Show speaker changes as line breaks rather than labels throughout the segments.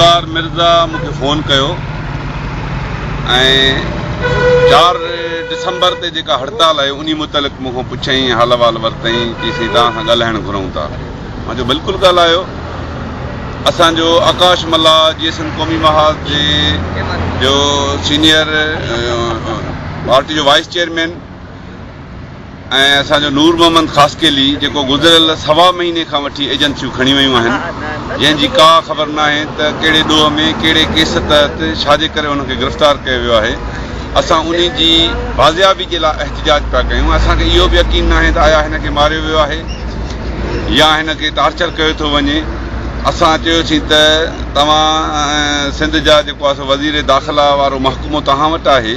ذوالفقار مرزا مون کي فون ڪيو ۽ چار ڊسمبر تي جيڪا هڙتال آهي انهي متعلق مون کان پڇيائين حال احوال ورتائين چيائين سائين توهان سان ڳالهائڻ گهرون ٿا مان چيو بلڪل ڳالهايو اسان جو آڪاش ملاح جي ايس ايم قومي محاذ جي جو سينيئر پارٽي جو وائيس چيئرمين ۽ اسان جو نور محمد خاصخيلي جيڪو گذريل سوا مهيني کان وٺي ايجنسيون کڻي ويون آهن جنهن جي ڪا خبر ناهي ته ڪهڙي ڏوهه ۾ ڪهڙي ڪيس تحت ڇا جي ڪري هن کي گرفتار ڪيو ويو آهي اسان انهي جي بازيابي جي لاء احتجاج پيا ڪيون اسان کي اهو به يقين ناهي ته آيا هن کي ماريو ويو آهي يا هن کي ٽارچر ڪيو ٿو وڃي اسان چيوسين ته توهان سنڌ جا جيڪو آهي سو وزير داخلا وارو محڪمو توهان وٽ آهي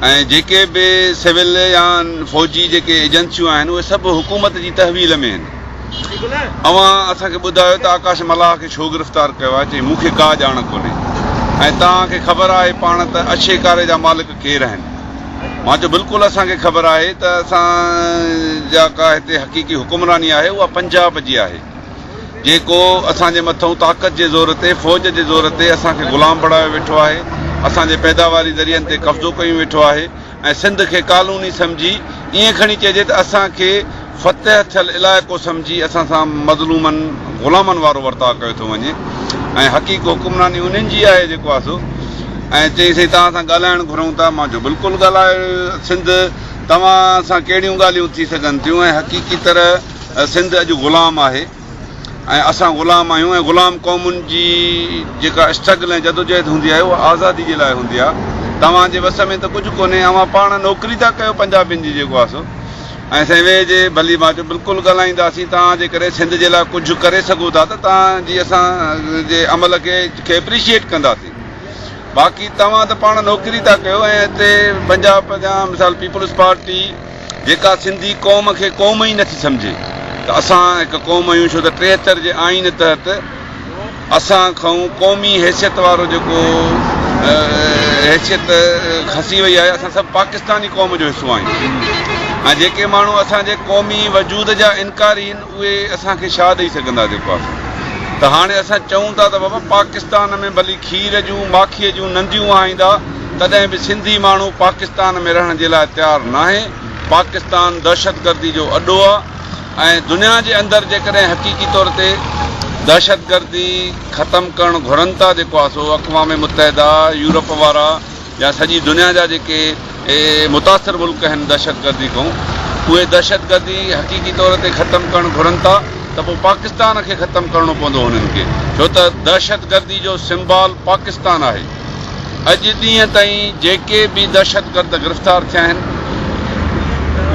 ۽ جيڪي به سول يا فوجي جيڪي ايجنسيون آهن اهي سڀ حڪومت جي تحويل ۾ آهن. اوهان اسان کي ٻڌايو ته آڪاش ملاح کي ڇو گرفتار ڪيو آهي؟ چيائين مون کي ڪا ڄاڻ ڪونهي ۽ توهان کي خبر آهي پاڻ ته اڇي ڪاري جا مالڪ ڪير آهن؟ مان چيو بلڪل اسان کي خبر آهي ته اسان جا ڪا هتي حقيقي حڪمراني آهي اها پنجاب جي آهي. جيڪو اسان جي مٿئون طاقت جي زور تي، فوج جي زور تي اسان کي غلام بڻايو ويٺو آهي، اسان جي پيداواري ذريعن تي قبضو ڪيون ويٺو آهي ۽ سنڌ کي ڪالوني سمجهي ائين کڻي چئجي ته اسان کي فتح ٿيل علائقو سمجهي اسان سان مظلومن غلامن وارو ورتاء ڪيو ٿو وڃي ۽ حقيقي حڪمراني انهن جي آهي جيڪو آهي سو ۽ چيائين سائين توهان سان ڳالهائڻ گهرون ٿا مان چيو بلڪل ڳالهايو سنڌ توهان سان ڪهڙيون ڳالهيون ٿي سگهن ٿيون ۽ حقيقي طرح سنڌ اڄ غلام آهي ۽ اسان غلام آهيون ۽ غلام قومن جي جيڪا اسٽرگل ۽ جدوجهد هوندي آهي اها آزادي جي لاء هوندي آهي توهان جي وس ۾ ته ڪجهه ڪونهي اوهان پاڻ نوڪري ٿا ڪيو پنجابين جي جيڪو آهي سو ۽ سائين ويهه جي ڀلي مان چيو بلڪل ڳالهائينداسين توهان جي ڪري سنڌ جي لاء ڪجهه ڪري سگهو ٿا ته توهان جي اسان جي عمل کي کي اپريشيئيٽ ڪنداسين باقي توهان ته پاڻ نوڪري ٿا ڪيو ۽ هتي پنجاب جا مثال پيپلز پارٽي جيڪا سنڌي قوم کي قوم ئي نٿي سمجهي ته اسان هڪ قوم آهيون ڇو ته ٽيهتر جي آئين تحت اسان کان قومي حيثيت وارو جيڪو حيثيت کسي وئي آهي اسان سڀ پاڪستاني قوم جو حصو آهيون ۽ جيڪي ماڻهو اسان جي قومي وجود جا انڪارين اهي اسان کي ڇا ڏئي سگهندا جيڪو آسان ته هاڻي اسان چئون ٿا ته بابا پاڪستان ۾ ڀلي کير جون ماکيء جون ننديون وهائيندا تڏهن به سنڌي ماڻهو پاڪستان ۾ رهڻ جي لاء تيار ناهي پاڪستان دهشتگردي جو اڏو آ ۽ دنيا جي اندر جيڪڏهن حقيقي طور تي دهشتگردي ختم ڪرڻ گهرن ٿا جيڪو آسو اقوام متحده يورپ وارا يا سڄي دنيا جا جيڪي متاثر ملڪ آهن دهشتگردي کون اهي دهشتگردي حقيقي طور تي ختم ڪرڻ گهرن ٿا ته پوء پاڪستان کي ختم ڪرڻو پوندو هنن کي ڇو ته دهشتگردي جو سمبال پاڪستان آهي اڄ ڏينهن تائين جيڪي به دهشتگرد گرفتار ٿيا آهن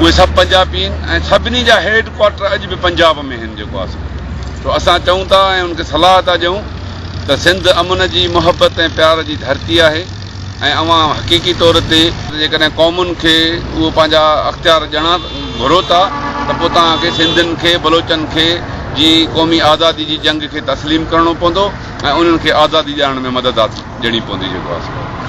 اهي سڀ پنجابي آهن ۽ سڀني جا هيڊ ڪوارٽر اڄ به پنجاب ۾ آهن جيڪو آسان ڇو اسان چئون ٿا ۽ ان کي صلاح ٿا ڏيون ته سنڌ امن جي، محبت ۽ پيار جي ڌرتي آهي ۽ اوهان حقيقي طور تي جيڪڏهن قومن کي اهو پنهنجا اختيار ڏيڻا گهرو ٿا ته پوء توهان کي سنڌين کي، بلوچن کي جي قومي آزادي جي جنگ کي تسليم ڪرڻو پوندو ۽ انهن کي آزادي ڏيارڻ ۾ مدد ڏيڻي پوندي جيڪو آسمان.